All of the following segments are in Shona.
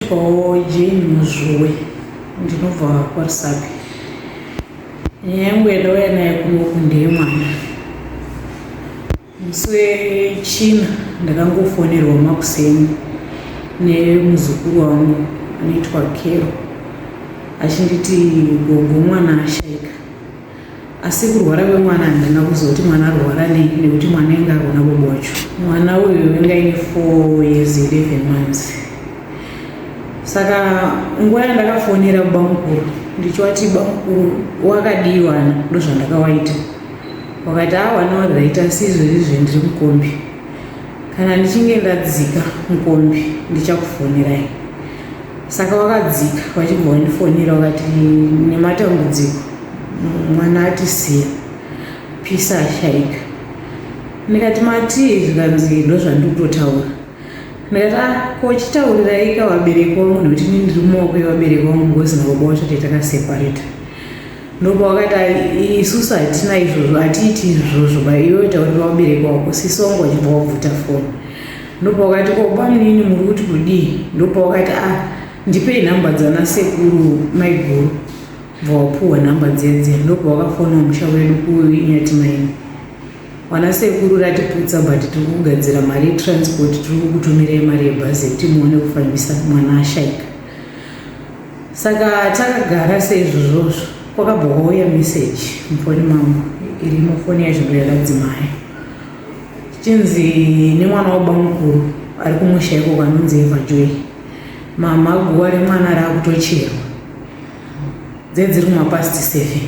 Ndinoitwawo Jane Muzvuwe ndinobva kwaRusape. Nyaya yangu yandauya nayo kunoku ndeyemwana. Musi wechina ndakangofonerwa makuseni nemuzukuru wangu anoitwa Kero achinditi gogo mwana ashaika. asi kurwara kwemwana handina kuziva kuti mwana arwara nei nekuti mwana inge arona bobo wacho mwana uyu inga ine four years eleven months saka nguva yandakafonera kubamukuru ndichivati bamukuru wakadii wana ndozvandakawaita wakati a wana warit asi izvezvizve ndiri mukombi kana ndichinge ndadzika mukombi ndichakufonirai saka wakadzika wachibva wandifonera wakati nematambudziko mwana atisiya pisa ashaika ndikati matii zvikanzi ndo zvandikutotaura ndikati a ah, kochitauriraika vabereki wangu nekuti ni ndiri mumaoko yevabereki wangu ngozina baba wacho tete akasepareta ndopa wakati isusu hatina izvozvo hatiiti izvozvo baiwe taurira vabereki wako sisongo wachibva wabvuta foni Ndopawakati ko bamunini muri kuti kudii? Ndopawakati ah ndipei nhamba dzana sekuru maiguru bva wapuhwa nhamba dzedze ndopawakafona musha wedu kuinyatimaini wana sekuru ratiputsa but tiri kugadzira mari yetransport tiri kukutumirei mari yebhazi yekuti muone kufambisa mwana ashaika saka takagara seizvozvozvo kwakabva kwauya meseji mufoni mangu iri mufoni yazvinhu yakadzimaya chinzi nemwana wabamukuru ari kumusha iko kwanonzi evajoy mama guva remwana raakutocherwa dzedziri kumapast seven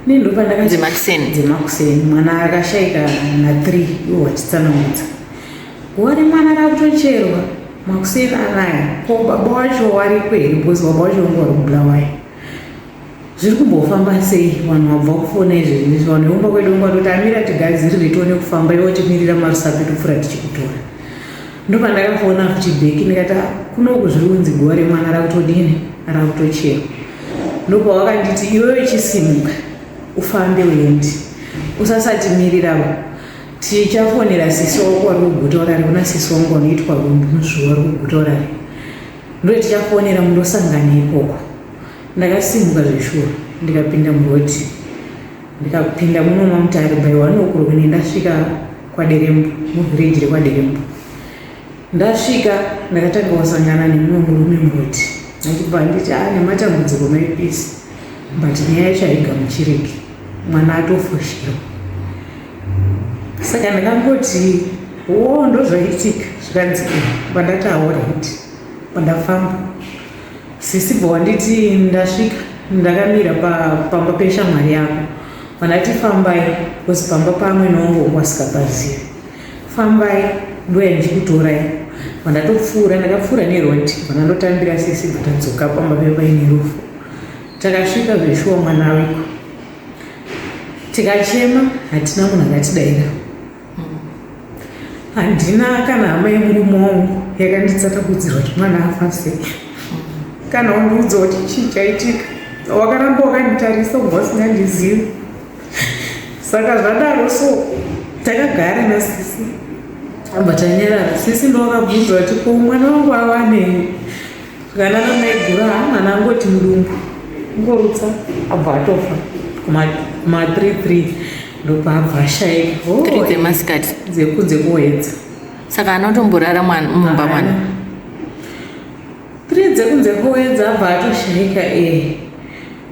nendopandakadzemakuseni mwana akashaika na three iwo wachitsanangudza guva remwana raakutocherwa makuseni anaya ko baba wacho wariko here because baba wacho vanga vari kubulawayo zviri kumbofamba sei vanhu vabva kufona izvi zvinoizvi vanhu vekumba kwedu kumba toti amira tigadziri ritione kufamba ivo timirira marusapi topfura tichikutora ndopandakafona futi bheki ndikati ah, kunoku zviri kunzi guva remwana rakutodini rakutochera ndopawakanditi iwewe chisimuka ufambe uendi usasatimirirawo tichafonera sisi wako wari kuguta urari kuna sisi wangu wanoitwa rumbunuzvuwa wari kuguta urari ndotichafonera mundosangana ikoko Ndakasimuka zveshuwa ndikapinda muroad ndikapinda muno maMutare by one o'clock ne ndasvika kwaDerembo muvillage rekwaDerembo. Ndasvika ndakatanga kusangana nemumwe murume muroad achibva anditi aa ah, nematambudziko maipisi but nyaya yacho haigamuchiriki mwana atofoshirwa saka ndakangoti wo ndozvaitika zvikanzi pandataura kuti pandafamba Sisi bva wanditi ndasvika ndakamira pamba peshamwari yako vandati fambai bcause pamba pamwe nongo wasikapazivi fambai ndoya ndichikutorai vandatopfuura ndakapfuura neroti vandandotambira sisi bva tadzoka pamba pepaine rufu takasvika zveshuwa mwana weko tikachema hatina munhu akatidaira handina kana hama yemurume wangu yakanditsatakudzirwa chimwana afa sei kana wandiudza kuti chii chaitika wakaramba wakanditarisa ubva usingandizivi saka zvadaro so takagara nasisi amba tanyarara sisi ndowakabvunza kuti ko mwana wangu awanei Kana namaigura mwana angoti mudumbu ngorutsa abva atofa ma 33 ndopaabva ashaika oh, dzemasikati dzekunze kuedza saka anotomborara mumba mwana 3 dzekunze kuedza abva atoshaika e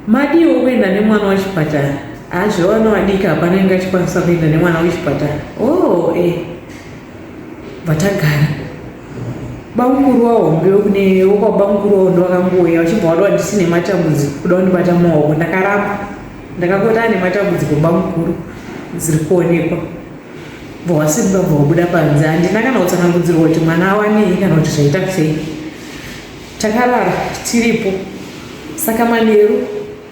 madiwo kuenda nemwana wachipatara azvevana vadiki hapana inge achikwanisa kuenda nemwana wechipatara o oh, e eh. vatagara bamukuru wahombe kune wokwabamukuru wawo ndovakangouya vachibva vati wandisine matambudziko kuda kundibata maoko ndakaramba ndakakota ane matambudziko bamukuru dziri kuonekwa bva wasimba bva wabuda panze handina kana kutsanangudzirwa kuti mwana awanei kana kuti zvaita sei takarara tiripo saka manheru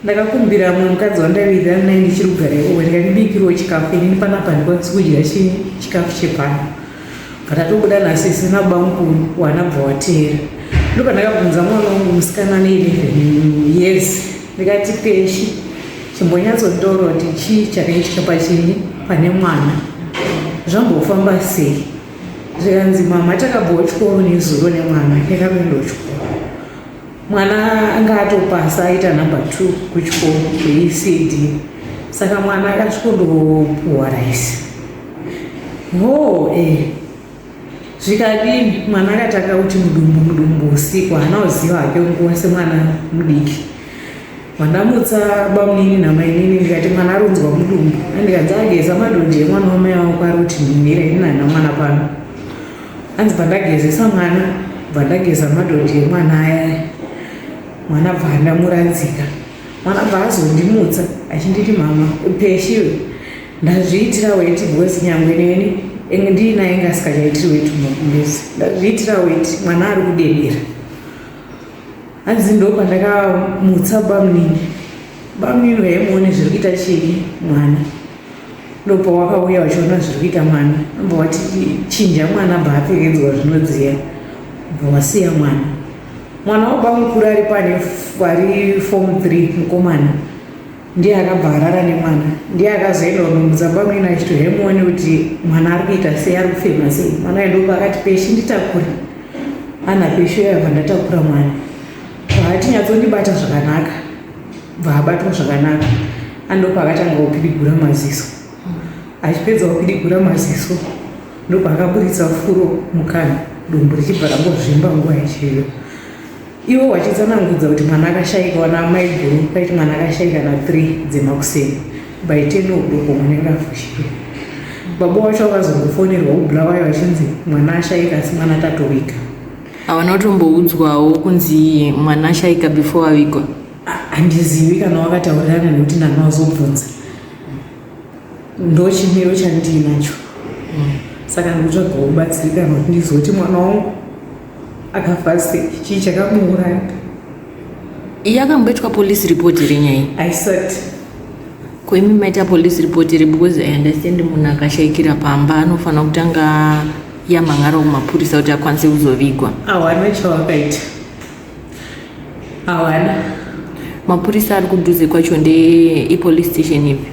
ndakakumbira mumwe mukadzi wandaiwirirana naye ndichiri kugara iwe ndikandibikirwo chikafu inini panapa ndikwanisi kudya chii chikafu chepano patatobuda nhasi isina bamukuru wanabva wateera ndo pandakabvunza mwana wangu musikana ane 11 yes ndikati peshi chimbonyatsotaura kuti chii chakaitika pachini pane mwana zvambofamba sei zvikanzi mama takabvawo chikoro nezuro nemwana ndakapindawo chikoro mwana anga atopasa aita number two kuchikoro kweecd saka mwana akasvikondopuwa raisi hoo eh zvikadini mwana akatanga kuti mudumbu mudumbu usiku haana kuziva hake nguva semwana mudiki Mandamutsa bamunini namainini ndikati mwana aronzwa mudumbu andikanzi ageza madhodhi emwana wamai wavo kwari kuti mhimire ndinana mwana pano anzi pandagezesa mwana bvandageza madhodhi emwana aya mwana bva andamuradzika mwana bva azondimutsa achinditi mama upeshiwe ndazviitira weti because nyangwe neni enge ndiinaye inge asikachaitiri weti mumakumbezi ndazviitira weti mwana ari kudedera hanzi ndopandakamuutsa bamnini bamnini vaimuone zviri kuita chii mwana ndopawakauya vachiona zviri kuita mwana amba wati chinja mwana bva apfekedzwa zvinodziya bva wasiya mwana mwana wabamukuru ari pane ari form three mukomana ndiye akabva arara nemwana ndiye akazoenda kunombudza bamwina achiti hemuone kuti mwana ari kuita sei ari kufema sei mwana aendoko akati peshi nditakure ana peshi yabva ndatakura mwana vaatinyatsondibata zvakanaka bvaabatwa zvakanaka andopa akatanga kupidigura maziso achipedza kupidigura maziso ndopaakaburitsa furo mukana dumbu richibva rangozvimba nguva yachiyo Ivo vachitsanangudza kuti mwana akashaika wana amai guru paiti mwana akashaika na 3 dzemakuseni by 10 o'clock munenge afushirwa. Baba wacho vakazongofonerwa kuBulawayo vachinzi mwana ashaika asi mwana tatowika. Havana kutomboudzwawo kunzi mwana ashaika before avigwa. Handizivi kana wakataurirana nekuti ndanga wazobvunza. Ndochimiro chandiinacho. Saka ndikutsvagawo kubatsirika kuti ndizoti mwana wangu akafa sei chii chakamuuraya iye akamboitwa police report here nyaya iyi aisati ko imi maita police report here because i understand munhu akashaikira pamba anofanira kutanga yamhangara kumapurisa kuti akwanise kuzovigwa hawana chawakaita hawana mapurisa ari kudhuze kwacho ndeipolice station ipi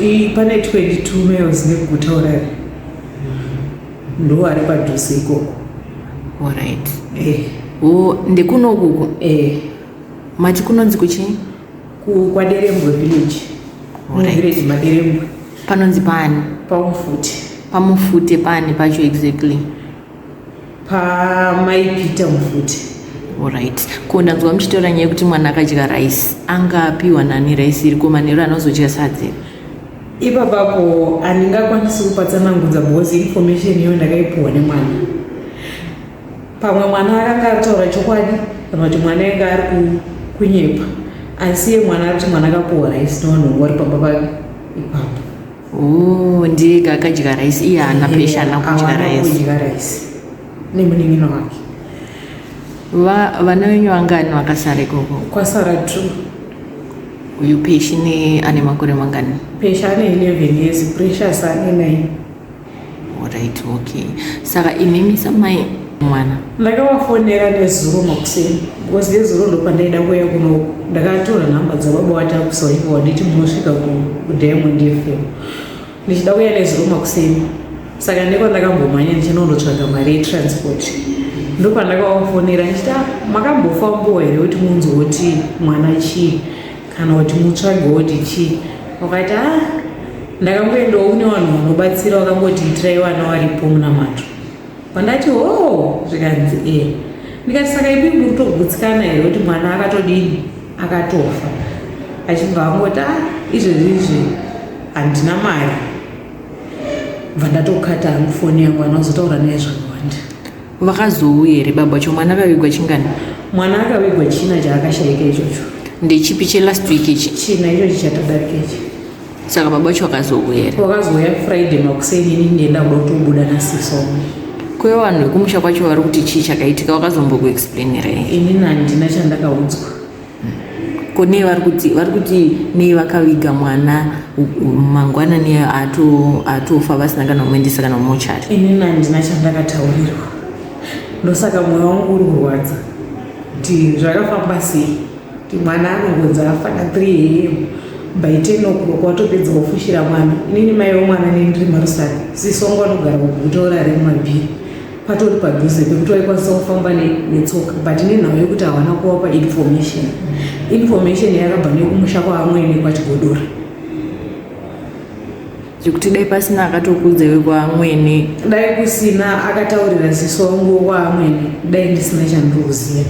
I- pane 22 miles nekugutaurari ndo ari padhuze ikoko orit eh. o ndekunokuko eh. mati kunonzi kuchii kwaderembwe village village maderembwe panonzi pani pamufute pamufute pani pacho exactly pamaipita mufute orit ko ndanzwa muchitaura nyaya yekuti mwana akadya rice anga apiwa nani rice iri ko manheru anozodya sadzi ipapapo handingakwanisi kupatsanangudza bhozi information iyo ndakaipiwa nemwana pamwe mwana akanga aritaura chokwadi kana kuti mwana anga ari kunyepa asi ye mwana ari kuti mwana akapiwa raisi nevanhu wari pamba pake ipapo oh, ndiye akadya raisi iye haana pesha ana kudya raisi nemunin'ina wake va vana venyu vangani vakasara ikoko kwasara two uyu peshi ne ane makore mangani peshi ane 11 years precious ane 9 orit okay saka imimi samai mwana ndakavafonera nezuro makuseni because nezuro ndo pandaida kuuya kuno ndakatora nhamba dzababa watakusaiko wanditi munosvika kudiamond fm ndichida kuya neziruma kuseni saka ndiko ndakambomhanya ndichinondotsvaga mari yetransport ndopandakavafonera ndichiti ah, makambofambowo here kuti munzi woti mwana chii kana kuti mutsvage woti chii wakati a ah, ndakangoendawo kune vanhu vanobatsira vakangoti itirai vana varipo muna mato vandati ho oh, zvikanzi e ndikati saka ipi muritogudzikana here kuti mwana akatodini akatofa achibva angoti ah, izvezvi izvi handina mari bva ndatokata hangu foni yangu ana uzotaura naye zvakawanda vakazouya here baba vacho mwana akavigwa chingani mwana akavigwa china chaakashaika ichocho ndechipi chelast week ichi china ichochi chatadarika ichi saka baba vacho vakazouya here vakazouya friday makuseni ini ndienda kuda kutobuda nasisomo kwe vanhu vekumusha kwacho vari kuti chii chakaitika vakazombokuexplainira here ini nandina chandakaudzwa ko nei vari kuti vari kuti nei vakaviga mwana mangwana ne atofa vasina kana kumuendesa kana mumochari ini nandina chandakataurirwa ndosaka mwoyo wangu uri kurwadza kuti zvakafamba sei kuti mwana anongonzi afana 3 am by 10 o'clock watopedza kufushira mwana inini mai wemwana nendiri marusani sisongo anogara kuguta orare mumabhiri patori padhuze pekuti waikwanisa kufamba netsoka but nenhau yekuti havana kuvapa information information yakabva nekumusha kwaamwene kwachigodora zvekuti dai pasina akatokuudza iwe kwaamwene dai kusina akataurira ziso wangu kwaamwene dai ndisina chandinoziva